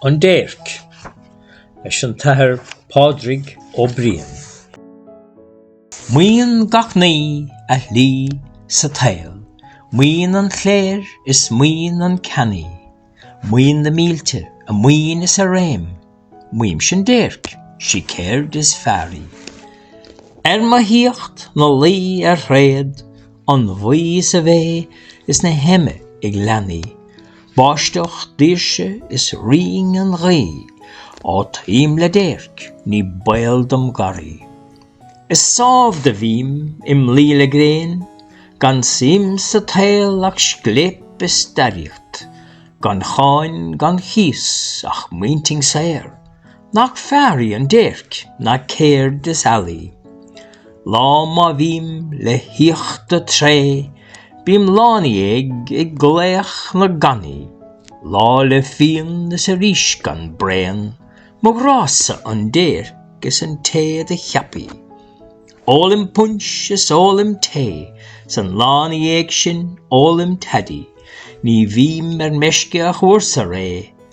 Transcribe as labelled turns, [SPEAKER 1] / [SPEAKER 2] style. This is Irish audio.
[SPEAKER 1] An déirc, leis an tAthair Pádraig Ó Briain. Maíonn gach ní a shlí sa tsaol, maíonn an chléir is maíonn an ceannaí, maíonn na mílte a maoin is a réim, maímse an déirc, sí céird is fearr í. Ar mo thíocht na luí ar thréad an bhaoi is a bhéith is na heime ag leanaí, Báisteach daoirse is rinn an ghaoth, Ó táim le déirc ní baol dom garraí, Is sámh do bhím im luí le gréin, Gan suim sa tsaol ach scléip is staraíocht, Gan cháin gan chíos ach m'intinn saor, Nach fearr í an déirc ná céird is ealaí. Lá má bhím le híota tréith, bím lá na dhiaidh ag glaoch na gcannaí, Lá le fíon is arís gan braon, mo ghrá-sa an déirc is an té do cheap í. Ólaim punch is ólaim tae, 's an lá na dhiaidh sin ólaim toddy, Ní bhím ar meisce ach uair sa ré,